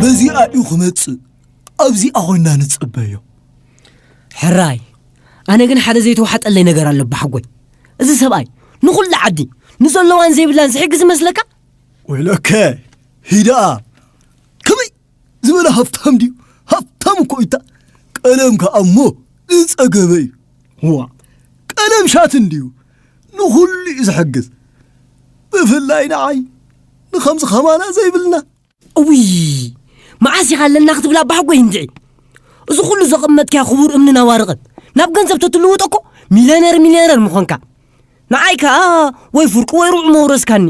በዚኣ እዩ ክመጽእ ኣብዚኣ ኮይና ንጽበዮ ሕራይ ኣነ ግን ሓደ ዘይተዋሓጠለይ ነገር ኣሎ ባሓጎይ እዚ ሰብኣይ ንኹሉ ዓዲ ንዘለዋን ዘይብላን ዝሕግዝ መስለካ ወይለከ ሂደኣ ከመይ ዝበለ ሃብታም ድዩ ሃብታም እኮ እታ ቀለም ከዓ እሞ ዝፀገበ እዩ ዋ ቀለም ሻት እንድዩ ንኹሉ እዩ ዝሕግዝ ብፍላይ ንዓይ ንኸምዚ ኸማና ዘይብልና እውይ መዓስ ኢኻ ኣለና ክትብላ ባሕጎይ እንድዒ እዚ ኩሉ ዘቐመጥካዮ ክቡር እምንን ኣዋርቕን ናብ ገንዘብ ተትልውጦ እኮ ሚልዮነር ሚልዮነር ምኾንካ ንዓይ ከኣ ወይ ፍርቁ ወይ ርዑ መውረስካኒ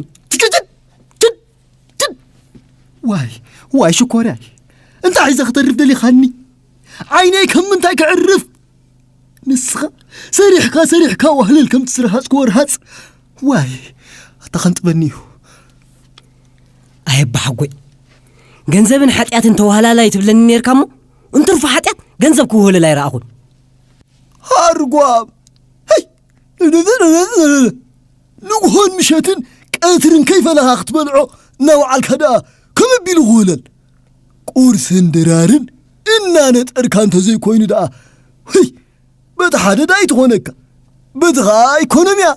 ዋይ ዋይ ሽኮርያይ እንታይ ሒዘ ክተርፍ ደሊኻኒ ዓይነይ ከም ምንታይ ክዕርፍ ንስኻ ሰሪሕካ ሰሪሕካ ዋህልል ከም ትስርሃፅኩ ወርሃፅ ዋይ ኣታ ከንጥበኒ እዩ ኣየባሓጎይ ገንዘብን ሓጢኣትን ተዋህላላይ ትብለኒ ነርካ እሞ እንትርፎ ሓጢኣት ገንዘብ ክውህልል ኣይረኣኹን ሃርጓም ንግሆን ምሸትን ቀትርን ከይፈለኻ ክትበልዖ እናወዓልካ ደኣ ከም ኣቢሉ ክውለል ቁርስን ድራርን እናነጠርካ እንተዘይኮይኑ ደኣ ህይ በቲ ሓደ ደኣ ኣይትኾነካ በቲ ከዓ ኣይኮነን እያ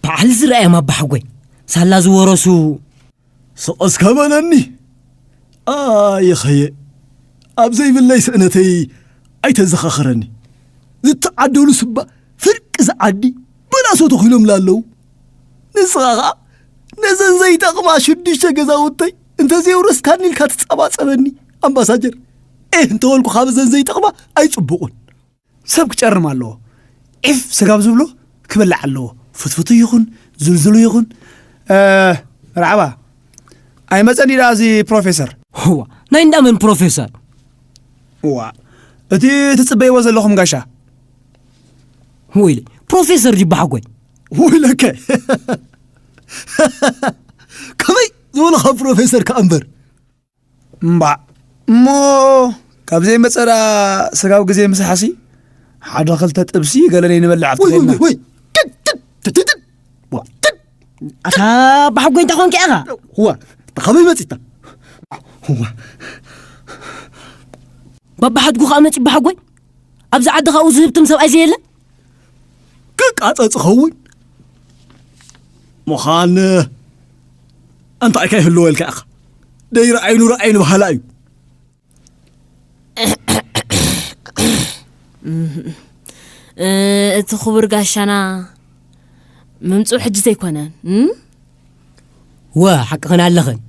በዓል ዝረኣዮም ኣባሓጎይ ሳላ ዝወረሱ ስቕ እስከ በለኒ ኣይኸየ ኣብ ዘይብለይ ስእነተይ ኣይተዘኻኽረኒ ዝተዓደሉ ስባ ፍርቂ ዝዓዲ በላሶ ተኺሎምላ ኣለዉ ንስኻ ኸኣ ነዘን ዘይጠቕማ ሽዱሽተ ገዛውተይ እንተዘየውረስካኒ ኢልካ ትጸባጸበኒ ኣምባሳጀር ኤህ እንተበልኩ ካብ እዘን ዘይጠቕማ ኣይጽቡቑን ሰብ ክጨርም ኣለዎ ዒፍ ስጋብ ዝብሎ ክበልዕ ኣለዎ ፍትፍቱ ይኹን ዝልዝሉ ይኹን መርሓባ ኣይመፀን እዩ ደኣ እዚ ፕሮፌሰር እዋ ናይ እንዳመን ፕሮፌሰር እዋ እቲ ትፅበይዎ ዘለኹም ጋሻ ወይለይ ፕሮፌሰር ድዩ ባሓጎይ ወይለከ ከመይ ዝበሉ ካብ ፕሮፌሰር ከኣ እምበር እምባእ እሞ ካብ ዘይመፀ ደኣ ስጋብ ግዜ ምሳሕሲ ሓደ ክልተ ጥብሲ ገለ ነይንበልዕ ኣብቲ ወይ ወይ ከይድና ወይ ትት ትት ትት ትት ዋ ትት ኣታ ብሓጎይ እንታይ ኮንካ ኢኻ ዋ እታ ካበይ መፂታ ዋ ባባሓድጉ ከዓ መፂ ባሓጎይ ኣብዚ ዓዲ ካብኡ ዝህብትም ሰብኣይ ዘየለ ክቃጸጽ ኸውን ምዃን እንታይ ከይህልዎ ኢልካ ኢኻ ደይረ ዓይኑ ረኣይ ንባህላ እዩ እቲ ክቡር ጋሻና ምምፅኡ ሕጂ ዘይኮነን እወ ሓቅኽን ኣለኽን።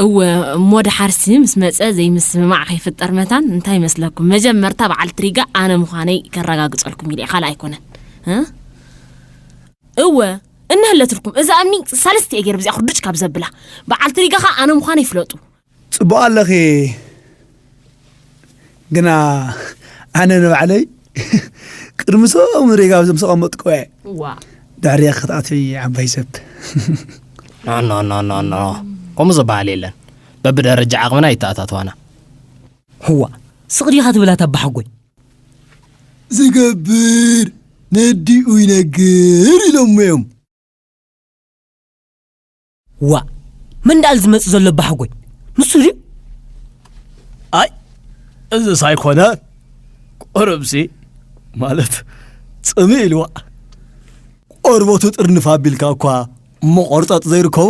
እወ እሞ ድሓርሲ ምስ መጸ ዘይምስምማዕ ከይፍጠር መታን እንታይ ይመስለኩም መጀመርታ በዓልቲ ሪጋ ኣነ ምዃነይ ከረጋግጸልኩም ኢለ ካልእ ኣይኮነን እወ እንህለትልኩም እዛ እምኒ ሳልስቲ እየ ገይረ ብዚኣ ኩርድጭ ካብ ዘብላ በዓልቲ ሪጋ ከዓ ኣነ ምዃነይ ፍለጡ ጽቡቅ ኣለኺ ግና ኣነ ንባዕለይ ቅድሚ ሶም ሬጋ ብዞም ዝተቐመጥኩ እየ ድሕሪየ ክትኣትዊ ዓባይ ሰብ ኖኖኖኖኖ ከምኡ ዝበሃል የለን በብደረጃ ዓቕምና ይተኣታተዋና ህዋ ስቕ ዲኻ ትብላ ተባሓጎይ ዝገብር ነዲኡ ይነግር ኢሎሞ እዮም ዋእ መን ደኣል ዝመጽእ ዘሎ ባሕጎይ ንሱ ድዩ ኣይ እዚ ሳይኮነ ቁርብሲ ማለት ጽሚ ኢልዋ ቆርበቱ ጥርንፍ ኣቢልካ እኳ መቖርጠጥ ዘይርከቦ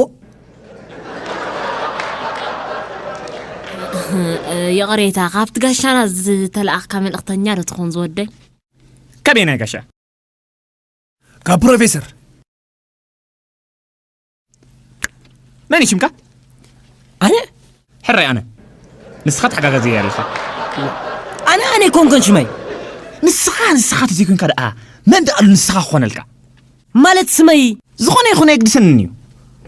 ይቕሬታ ካብቲ ጋሻና ዝተለኣኽካ መልእኽተኛ ዶ ትኾን ዝወደይ ከመይ ናይ ጋሻ ካብ ፕሮፌሰር መን እዩ ሽምካ ኣነ ሕራይ ኣነ ንስኻ ተሓጋጋዚ እየ ኣለኻ ኣነ ኣነ ኮንኮን ሽመይ ንስኻ ንስኻ ተዘይኮንካ ደኣ መን ደኣሉ ንስኻ ክኾነልካ ማለት ስመይ ዝኾነ ይኹን ኣይግድሰንን እዩ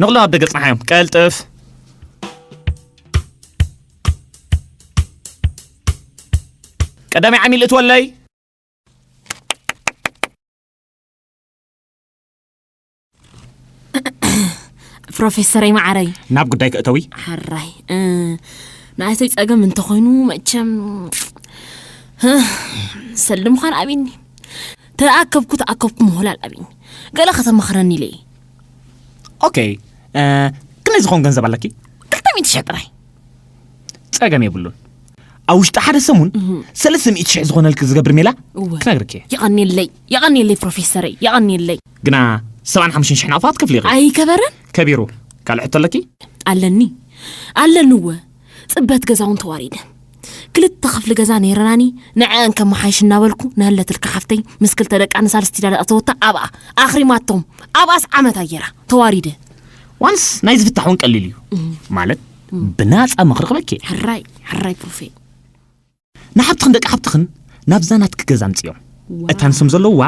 ንቕሎም ኣብ ደገ ፅናሓዮም ቀልጥፍ ቀዳማይ ዓሚል እትወለይ ፕሮፌሰረይ ማዕረይ ናብ ጉዳይ ክእተዊ ሓራይ ንኣይተይ ጸገም እንተኾይኑ መቸም ሰልም ዃን ኣብኒ ተኣከብኩ ተኣከብኩ ምሆላል ኣብኒ ገለ ከተመኽረኒ ኢለ ኦኬ ክንደይ ዝኾን ገንዘብ ኣለኪ ክልተ ሚእቲ ሽሕ ጥራይ ጸገም የብሉን ኣብ ውሽጢ ሓደ ሰሙን ሰለስተ ሚእቲ ሽሕ ዝኾነልኪ ዝገብር ሜላ ክነግርኪ የቐኒለይ የቐኒለይ ፕሮፌሰረይ የቐኒለይ ግና ሰብዓን ሓሙሽን ሽሕ ናቕፋ ክትከፍሊ ኢኺ። ኣይከበረን። ከቢሩ። ካልእ ሕቶ ኣለኪ? ኣለኒ ኣለኒ እወ ፅበት ገዛ እውን ተዋሪደ ክልተ ክፍሊ ገዛ ነይረናኒ ንዐአን ከመሓይሽ እናበልኩ ንህለትልካ ሓፍተይ ምስ ክልተ ደቃ ንሳልስቲ ዳለ ኣተወታ ኣብኣ ኣኽሪማቶም ኣብኣስ ዓመት ኣየራ ተዋሪደ ዋንስ ናይ ዝፍታሕ እውን ቀሊል እዩ ማለት ብናፃ ምኽሪ ክበኪ ሕራይ ሕራይ ፕሮፌ ንሓብትኽን ደቂ ሓብትኽን ናብዛ ናትኪ ገዛ ኣምጽዮም። እታ ንሶም ዘለውዋ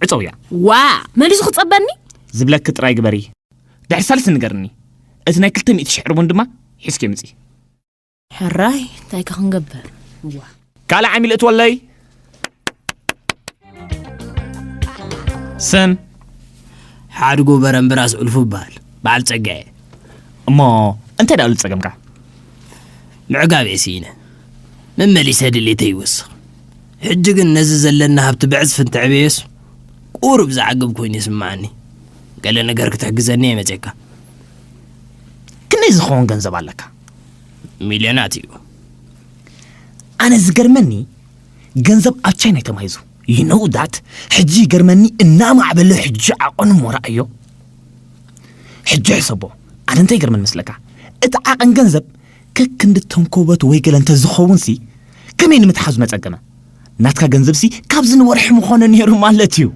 ዕጸውያ። ዋእ! መሊሱ ክጸበኒ? ዝብለኪ ጥራይ ግበሪ። ድሕሪ ሳልስቲ ንገርኒ። እቲ ናይ ክልተ ሚእቲ ሽሕ ርቡን ድማ ሒዝክዮ ምጺ። ሕራይ! እንታይከ ክንገብር? ዋእ! ካልእ ዓሚል እትወለይ? ስም ሓድጉ በረምብራስ ዑልፉ ይበሃል በዓል ጸጋ እየ እሞ እንታይ ደኣሉ ጸገምካ ምዕጋብ እየ ስኢነ መመሊሰ ድሌተ ይወስኽ ሕጂ ግን ነዚ ዘለና ሃብቲ ብዕጽፊ እንትዕበየስ ቁሩብ ዝዓግብ ኮይኑ ይስምዓኒ ገለ ነገር ክትሕግዘኒ እየ መጼካ ክንደይ ዝኸውን ገንዘብ ኣለካ ሚልዮናት እዩ ኣነ ዝገርመኒ ገንዘብ ኣብ ቻይና ተማሂዙ ይነው ዳት ሕጂ ይገርመኒ እናማዕበለ ሕጂ ዓቐኑ እሞ ረኣዮ ሕጂ ሕሰቦ ኣነ እንታይ ይገርመኒ መስለካ እቲ ዓቐን ገንዘብ ከክንዲ ተንኮበት ወይ ገለ እንተዝኸውንሲ ከመይ ንምትሓዙ መጸገመ ናትካ ገንዘብሲ ካብዚ ንወርሒ ምኾነ ነይሩ ማለት እዩ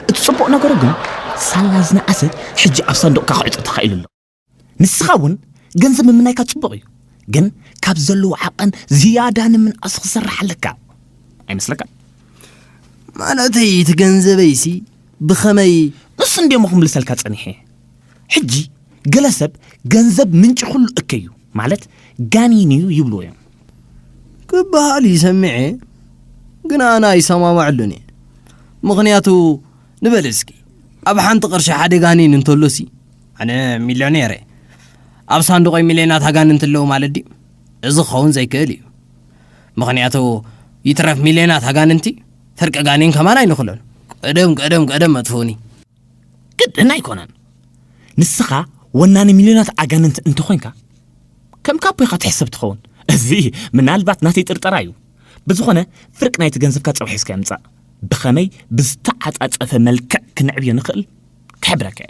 እቲ ጽቡቕ ነገሩ ግን ሳላ ዝነኣሰ ሕጂ ኣብ ሳንዱቕካ ክዕጾ ተኻኢሉ ኣሎ ንስኻ እውን ገንዘብ ምምናይካ ጽቡቕ እዩ፣ ግን ካብ ዘለዎ ዓቐን ዝያዳ ንምንኣስ ክሰርሕ ኣለካ ኣይመስለካን? ማለተይ እቲ ገንዘበይሲ ብኸመይ ንሱ እንድየ እሞ ክምልሰልካ ጸኒሐ። ሕጂ ገለ ሰብ ገንዘብ ምንጪ ኩሉ እከይ እዩ ማለት ጋኒን እዩ ይብልዎ እዮም። ክበሃል እዩ ሰሚዐ፣ ግን ኣነ ኣይሰማማዕሉን እየ። ምኽንያቱ ንበል እስኪ ኣብ ሓንቲ ቅርሺ ሓደ ጋኒን እንተሎሲ ኣነ ሚልዮኔር እየ ኣብ ሳንዱቐይ ሚልዮናት ኣጋንንቲ ኣለዉ ማለት ድዩ? እዚ ክኸውን ዘይክእል እዩ። ምኽንያቱ ይትረፍ ሚልዮናት ኣጋንንቲ ፍርቂ ጋኔን ከማን ኣይንኽሎን። ቀደም ቀደም ቀደም ኣጥፍኡኒ። ግድን ኣይኮነን። ንስኻ ወናኒ ሚልዮናት ኣጋንንቲ እንተኾይንካ ከም ካቦ ኢኻ ትሕሰብ ትኸውን። እዚ ምናልባት ናተይ ጥርጠራ እዩ። ብዝኾነ ፍርቂ ናይቲ ገንዘብካ ጽባሕ ሒዝካዮ ምጻእ። ብኸመይ ብዝተዓጻጸፈ መልክዕ ክንዕብዮ ንኽእል ክሕብረካ እየ።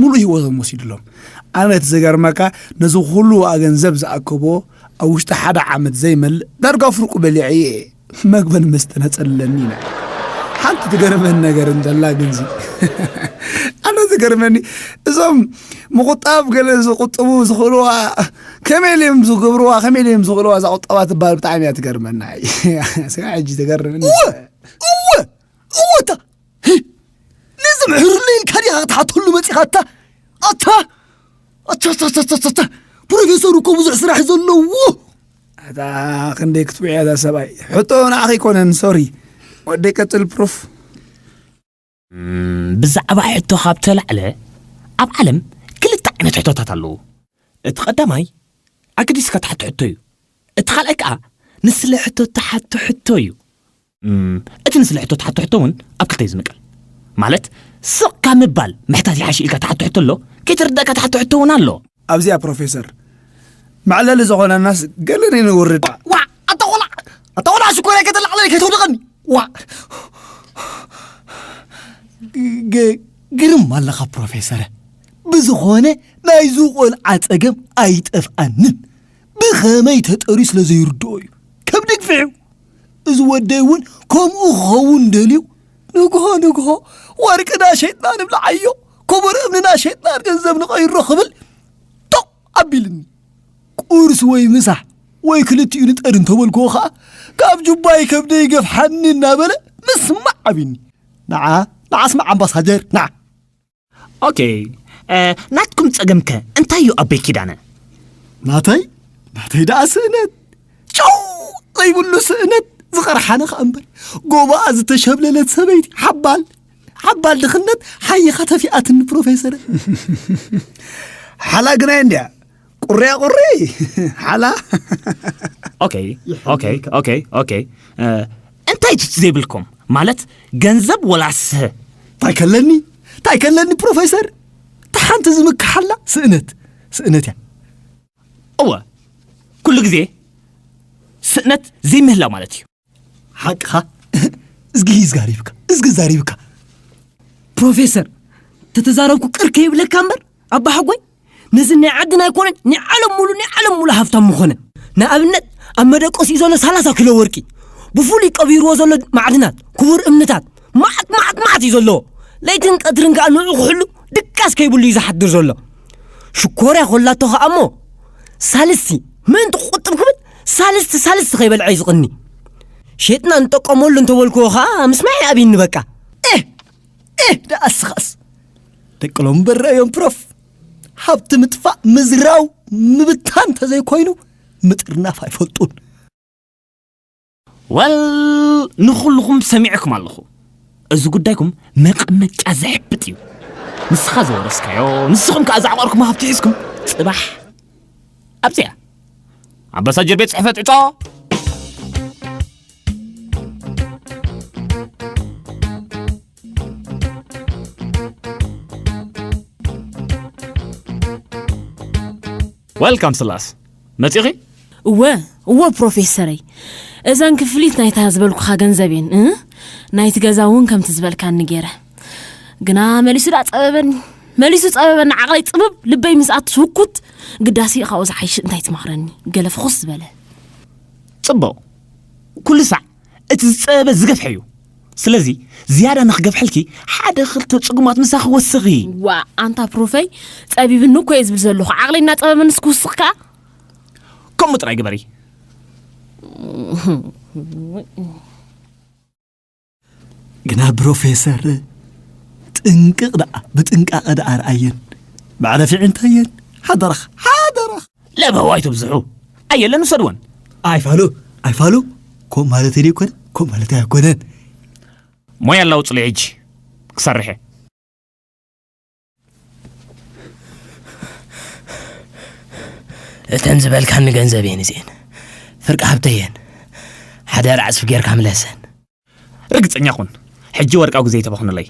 ሙሉእ ህይወቶም ወሲድሎም ኣነ እቲ ዘገርመካ ነዚ ኩሉ ዋኣ ገንዘብ ዝኣከቦ ኣብ ውሽጢ ሓደ ዓመት ዘይመልእ ዳርጋ ፍርቁ በሊዐ እየ መግበን መስተ ነጸለኒ ኢና ሓንቲ ትገርመን ነገር እንተላ ግንዚ ኣነ ዝገርመኒ እዞም ምቁጣብ ገለ ዝቁጥቡ ዝኽእልዋ ከመይ ልዮም ዝገብርዋ ከመይ ልዮም ዝኽእልዋ እዛ ቁጠባ ትበሃል ብጣዕሚ እያ ትገርመና ስጋ ሕጂ ትገርመኒ እወ እወ እወ ንዝምሕርሉ ኢልካ ዲኻ ክትሓተሉ መፂኻ ኣታ ኣታ ኣታታታታታ ፕሮፌሰር እኮ ብዙሕ ስራሕ ዘለዎ ኣታ ክንደይ ክትብዕ እዛ ሰብኣይ ሕቶ ንዓኺ ይኮነን ሶሪ ወደ ቀፅል ፕሮፍ ብዛዕባ ሕቶ ካብ ተላዕለ ኣብ ዓለም ክልተ ዓይነት ሕቶታት ኣለዉ እቲ ቀዳማይ ኣገዲስካ ትሓቶ ሕቶ እዩ እቲ ካልኣይ ከዓ ንስለ ሕቶ ትሓቶ ሕቶ እዩ እቲ ንስለ ሕቶ ትሓቶ ሕቶ እውን ኣብ ክልተ እዩ ዝምቀል። ማለት ስቕ ካብ ምባል ምሕታት ይሓሽ ኢልካ ትሓቶ ሕቶ ኣሎ፣ ከይተረዳእካ ትሓቶ ሕቶ እውን ኣሎ። ኣብዚኣ ፕሮፌሰር መዕለሊ ዝኾነናስ ገለ ነውርድ። ዋእ ኣታ ቆልዓ ኣታ ቆልዓ ሽኮርያ ከተላዕለኒ ከይተውድቐኒ ዋእ ግርም ኣለኻ ፕሮፌሰረ ብዝኾነ ናይዚ ቆልዓ ጸገም ኣይጠፍኣንን ብኸመይ ተጠርዩ ስለ ዘይርድኦ እዩ ከብዲ ግፍዒ እዚ ወደይ እውን ከምኡ ክኸውን ደልዩ ንግሆ ንግሆ ወርቅና ሸይጥና ንብልዓዮ ክቡር እምንና ሸይጥና ገንዘብ ንቐይሮ ክብል ቶቕ ኣቢልኒ ቁርሲ ወይ ምሳ ወይ ክልቲኡ ንጠር እንተበልክዎ ከዓ ካብ ጁባይ ከብደ ይገፍሓኒ እናበለ ምስማዕ ዓብኒ ንዓ ንዓ ስማዕ ኣምባሳጀር ንዓ ኦኬይ ናትኩም ጸገም ከ እንታይ እዩ ኣበይ ኪዳነ ናተይ ናተይ ደኣ ስእነት ጨው ዘይብሉ ስእነት ዝቐርሓነ ከኣ እምበር ጎባኣ ዝተሸብለለት ሰበይቲ ሓባል ሓባል ድኽነት ሓይኻ ተፊኣትኒ ፕሮፌሰረ ሓላ ግናይ እንድያ ቁርያ ቁሪ ሓላ ኦከይ ኦከይ ኦከይ ኦከይ እንታይ ትቲ ዘይብልኩም ማለት ገንዘብ ወላስ እንታይ ከለኒ እንታይ ከለኒ ፕሮፌሰር ተሓንቲ ዝምክሓላ ስእነት ስእነት እያ እወ ኩሉ ግዜ ስእነት ዘይምህላው ማለት እዩ ሓቅኻ እዝጊ ይዝጋሪብካ እዝጊ ዛሪብካ ፕሮፌሰር ተተዛረብኩ ቅር ከይብለካ እምበር ኣባሓጎይ ነዚ ናይ ዓድና ኣይኮነን ናይ ዓለም ሙሉ ናይ ዓለም ሙሉ ሃብታም ምኾነ ንኣብነት ኣብ መደቀሲኡ ዘሎ ሰላሳ ኪሎ ወርቂ ብፍሉይ ቀቢርዎ ዘሎ ማዕድናት ክቡር እምንታት ማዓት ማዓት ማዓት እዩ ዘለዎ ለይትን ቀትርን ከዓ ንዑ ክሕሉ ድቃስ ከይብሉ እዩ ዝሓድር ዘሎ ሽኮርያ ኮላቶ ከዓ እሞ ሳልስቲ ምእንቲ ክቁጥብ ክብል ሳልስቲ ሳልስቲ ከይበልዐ እዩ ዝቕኒ ሸጥና ንጠቀመሉ እንተበልክዎ ከዓ ምስማዕ ይኣብይኒ በቃ እህ እህ ደኣ እስኻስ ደቂ ሎም በረ እዮም ፕሮፍ ሃብቲ ምጥፋእ ምዝራው ምብታን እንተዘይኮይኑ ምጥርናፍ ኣይፈልጡን ወል ንኹልኹም ሰሚዕኩም ኣለኹ እዚ ጉዳይኩም መቐመጫ ዘሕብጥ እዩ ንስኻ ዘወረስካዮ ንስኹም ከዓ ዛዕቋርኩም ሃብቲ ሒዝኩም ፅባሕ ኣብዚያ ኣባሳጀር ቤት ፅሕፈት ዕፆ ወልካም ስላስ መጺኺ እወ እወ ፕሮፌሰረይ እዘን ክፍሊት ናይታ ዝበልኩኻ ገንዘብ እየን እ ናይቲ ገዛ እውን ከምቲ ዝበልካኒ ገይረ ግና መሊሱ ዳ ፀበበኒ መሊሱ ፀበበኒ ዓቕለይ ፅብብ ልበይ ምስ ኣትስ ህኩት ግዳሲ ካብኡ ዝሓይሽ እንታይ ትመኽረኒ ገለ ፍኹስ ዝበለ ፅቡቕ ኩሉ ሳዕ እቲ ዝፀበበ ዝገፍሐ እዩ ስለዚ ዝያዳ ንክገብሐልኪ ሓደ ክልተ ጽጉማት ምሳኺ ወስኺ። ዋእ ኣንታ ፕሩፈይ ጸቢብኒ እኮ እየ ዝብል ዘለኹ ዓቕለይ እናጸበበኒ ስክውስኽ ከኣ ከምኡ ጥራይ ግበሪ። ግና ብሮፌሰር ጥንቅቕ ደኣ ብጥንቃቐ ደኣ ርኣየን መዕረፊ ዕንታየን ሓደራኽ ሓደራኽ ለበው ኣይትብዝሑ ኣየለን ውሰድወን ኣይፋሉ ኣይፋሉ ከምኡ ማለት ደ ይኮነ ከምኡ ማለት ኣይኮነን ሞያ ኣላውፅሉ ሕጂ ክሰርሐ እተን ዝበልካኒ ገንዘብ እየን እዚአን ፍርቂ ሃብተ እየን ሓደራ ዕፅፊ ጌርካ ምለሰን ርግፀኛ ኩን ሕጂ ወርቃዊ ግዜ ተባኹንለይ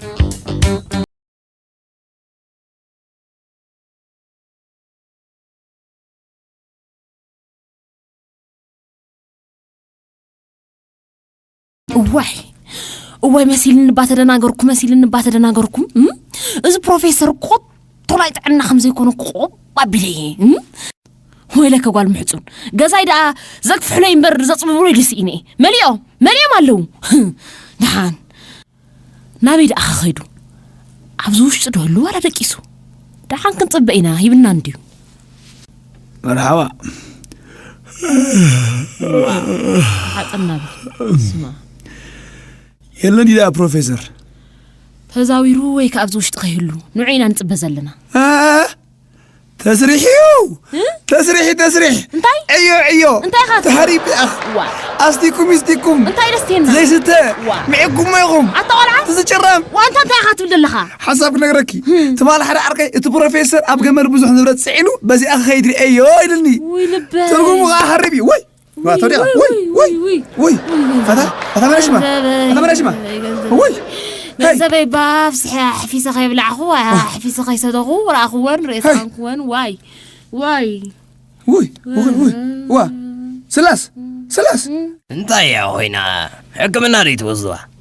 እዋይ እዋይ መሲልኒ እባ ተደናገርኩ መሲልኒ እባ ተደናገርኩ እም? እዚ ፕሮፌሰር ኮቶ ናይ ጥዕና ከም ዘይኮነ ቆብ ኣቢለ እየ እም? ወይለከ ጓል ምሕፁን ገዛይ ደኣ ዘግፍሕለይ እምበር ዘፅብብለይ ደስ ኢነ እየ መሊኦም መሊኦም ኣለዉ ድሓን ናበይ ደኣ ከኸይዱ ኣብዚ ውሽጢ ዶ ህሉ ዋላ ደቂሱ ደሓን ክንፅበ ኢና ሂብና እንድዩ መርሓባ ሓጥና ስማ የለን ኢዳ ፕሮፌሰር ተዛዊሩ ወይ ከኣብዚ ውሽጢ ከይህሉ ንዑ ኢና ንፅበ ዘለና ተስሪሕ እዩ ተስሪሒ ተስሪሕ እንታይ ዕዮ ዕዮ እንታይ ኢኻ ተሃሪ ቢኣኽ ኣስቲኩም ይስቲኩም እንታይ ደስቴና ዘይስተ ምዕጉሞ ኢኹም ኣታ ቆልዓ ትዝጭረም ዋንታ እንታይ ኢኻ ትብል ዘለኻ ሓሳብ ክነግረኪ ትማል ሓደ ዓርከይ እቲ ፕሮፌሰር ኣብ ገመል ብዙሕ ንብረት ፅዒኑ በዚኣ ክኸይድ ርእየዮ ኢልኒ ትርጉሙ ከዓ ሃሪብ እዩ ወይ ገንዘበይ ብኣፍስሐ ኣሕፊሰ ከይብላዕኹ ኣሕፊሰ ከይሰተኹ ረኣኹወን ርእየ ተቐንኩወን ዋይ ዋይ ውይ ውይ ዋ ስላስ ስላስ እንታይ እያ ኮይና ሕክምና ደይትወስድዋ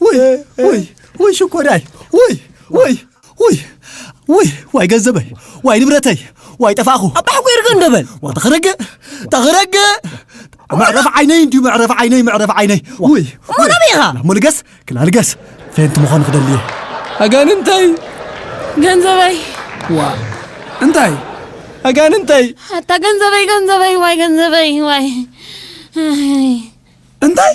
ውይ ውይ ውይ ሽኮራይ ውይ ውይ ውይ ውይ ዋይ ገንዘበይ ዋይ ንብረተይ ዋይ ጠፋእኹ ኣባሕኩ ይርገ እንደበል ተኽረገ ተኽረገ መዕረፍ ዓይነይ እንዲዩ መዕረፍ ዓይነይ መዕረፍ ዓይነይ ውይ እሞ ናበይ ኢኻ ናሞ ልገስ ክላ ልገስ ፌንቲ ምዃን ክደሊ እየ ኣጋንንተይ ገንዘበይ ዋ እንታይ ኣጋንንተይ ኣታ ገንዘበይ ገንዘበይ ዋይ ገንዘበይ ዋይ እንታይ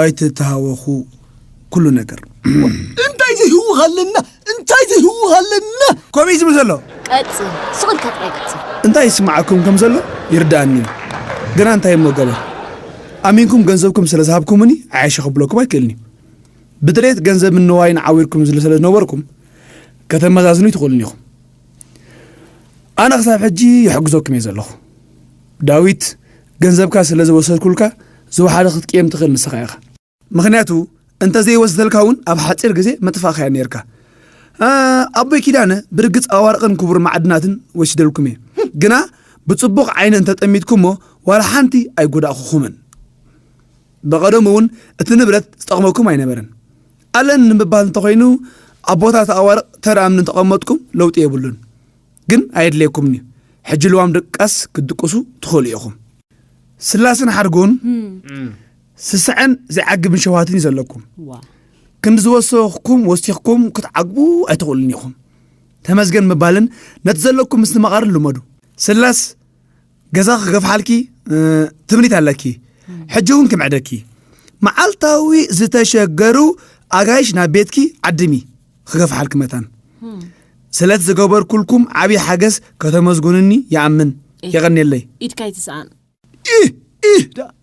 ኣይትተሃወኹ ኩሉ ነገር እንታይ ዘይህውኽ ኣለና እንታይ ዘይህውኽ ኣለና ከምኡ እዩ ዝብል ዘሎ ቀጽል ስቕ ኢልካ ጥራይ ቀጽል እንታይ ይስምዓኩም ከም ዘሎ ይርድኣኒ እዩ ግና እንታይ እሞ ገበር ኣሚንኩም ገንዘብኩም ስለ ዝሃብኩምኒ ዓያሸ ክብለኩም ኣይክእልን እዩ ብድሌት ገንዘብን ንዋይን ዓዊርኩም ስለ ዝነበርኩም ከተመዛዝኑ ይትኽእሉን ኢኹም ኣነ ክሳብ ሕጂ ይሕግዘኩም እየ ዘለኹ ዳዊት ገንዘብካ ስለ ዝወሰድኩልካ ዝወሓደ ክትቅየም ትኽእል ንስኻ ኢኻ ምኽንያቱ እንተዘይወስደልካ እውን ኣብ ሓፂር ግዜ መጥፋእኻያ ነይርካ ኣቦይ ኪዳነ ብርግፅ ኣዋርቕን ክቡር ማዕድናትን ወሲደልኩም እየ ግና ብፅቡቕ ዓይነ እንተጠሚትኩሞ ዋላ ሓንቲ ኣይጎዳእኹኹምን ብቐደሙ እውን እቲ ንብረት ዝጠቕመኩም ኣይነበረን ኣለን ንምባል እንተኾይኑ ኣብ ቦታ ተኣዋርቕ ተር ኣምኒ እንተቐመጥኩም ለውጢ የብሉን ግን ኣየድልየኩምን እዩ ሕጂ ልዋም ድቃስ ክትድቅሱ ትኽእሉ ኢኹም ስላስን ሓድጉን ስስዐን ዘይዓግብን ሸውሃትን እዩ ዘለኩም ክንዲ ዝወሰኹም ወሲኽኩም ክትዓግቡ ኣይትኽእሉን ኢኹም ተመስገን ምባልን ነቲ ዘለኩም ምስ ንመቓርን ልመዱ ስላስ ገዛ ክገፍሓልኪ ትምኒት ኣለኪ ሕጂ እውን ክምዕደኪ መዓልታዊ ዝተሸገሩ ኣጋይሽ ናብ ቤትኪ ዓድሚ ክገፍሓልኪ መታን ስለቲ ዝገበርኩልኩም ዓብዪ ሓገዝ ከተመስጉንኒ ይኣምን የቐኒየለይ ኢድካ ይትስኣን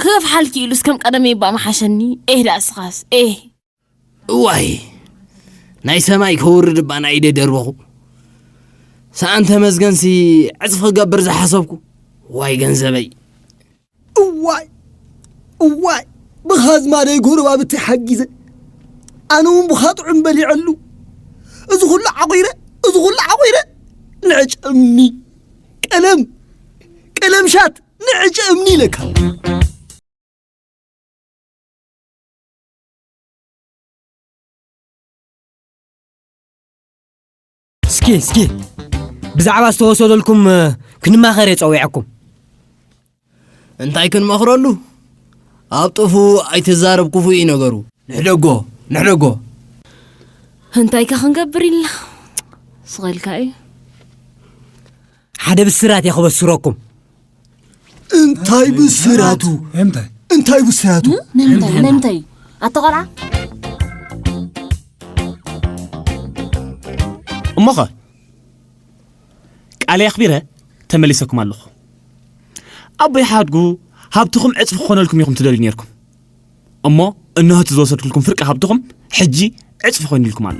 ክገፍሓልኪ ኢሉስ ከም ቀደመይ እባ መሓሸኒ ኤህ ደኣ ስኻስ ኤህ እዋይ ናይ ሰማይ ከውርድ እባ ናይ ኢደ ደርበኹ ሰኣን ተመስገንሲ ዕፅፊ ክገብር ዝሓሰብኩ ዋይ ገንዘበይ እዋይ እዋይ ብኻዝማደይ ጎረባብቲ ሓጊዘ ኣነ እውን ብኻ ጥዑም በሊዐሉ እዚ ኩሉ ዓቑረ እዚ ኩሉ ዓቑረ ንዕጨምኒ ቀለም ቀለም ሻት ንዕጨ እምኒ ኢለካ እስኪ እስኪ ብዛዕባ ዝተወሰደልኩም ክንማኸር እየ ፀዊዐኩም እንታይ ክንመኽረሉ? ኣብ ጥፉ ኣይትዛረብ ክፉ እዩ ነገሩ። ንሕደጎ ንሕደጎ እንታይ ከ ክንገብር ኢልና ስቐልካ እዩ ሓደ ብስራት እየ ክበስረኩም እንታይ ብስራቱ እንታይ ብስራቱ ንምንታይ ኣቶ ቆልዓ እሞኸ ቃለይ ኣኽቢረ ተመሊሰኩም ኣለኹ። ኣቦይ ሓድጉ ሃብትኹም ዕጽፊ ክኾነልኩም ኢኹም ትደልዩ ኔርኩም። እሞ እነሆ እቲ ዝወሰድኩልኩም ፍርቂ ሃብትኹም ሕጂ ዕጽፊ ኮይኑልኩም ኣሎ።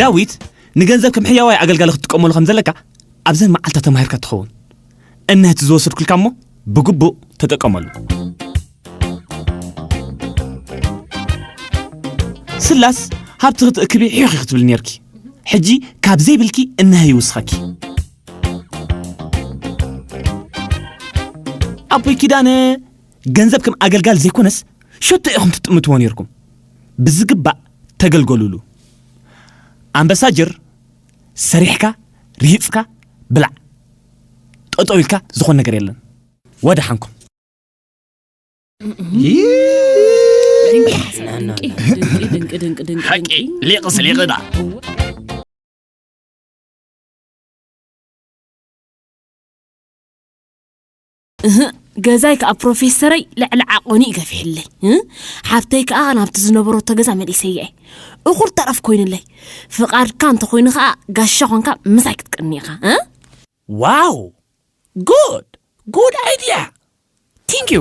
ዳዊት ንገንዘብ ከም ሕያዋይ ኣገልጋሊ ክትጥቀመሉ ከም ዘለካ ኣብዘን መዓልትታት ተማሂርካ ትኸውን እነህቲ ዝወሰድኩልካ እሞ ብግቡእ ተጠቀመሉ። ስላስ ሃብቲ ክትእክቢ ሒኺ ክትብል ነርኪ ሕጂ ካብ ዘይብልኪ እነሀ ይውስኸኪ ኣቦይ ኪዳነ ገንዘብ ከም ኣገልጋል ዘይኮነስ ሸቶ ኢኹም ትጥምትዎ ነርኩም ብዝግባእ ተገልገሉሉ ኣምበሳጅር ሰሪሕካ ሪሂጽካ ብላዕ ጠጠው ኢልካ ዝኾን ነገር የለን ወደሓንኩም። ሓቂ ሊቕ ስሊቕና እህ ገዛይ ከዓ ፕሮፌሰረይ ልዕሊ ዓቆኒ እዩ ገፊሕለይ እ? ሓብተይ ከዓ ናብቲ ዝነበረቶ ገዛ መሊሰያ እየ እኹል ተረፍ ኮይኑለይ ፍቓድካ እንተኮይኑ ከዓ ጋሻ ኮንካ ምሳይ ክትቀኒ ኢኻ እ? ዋው ጉድ ጉድ ኣይድያ ቲንክ ዩ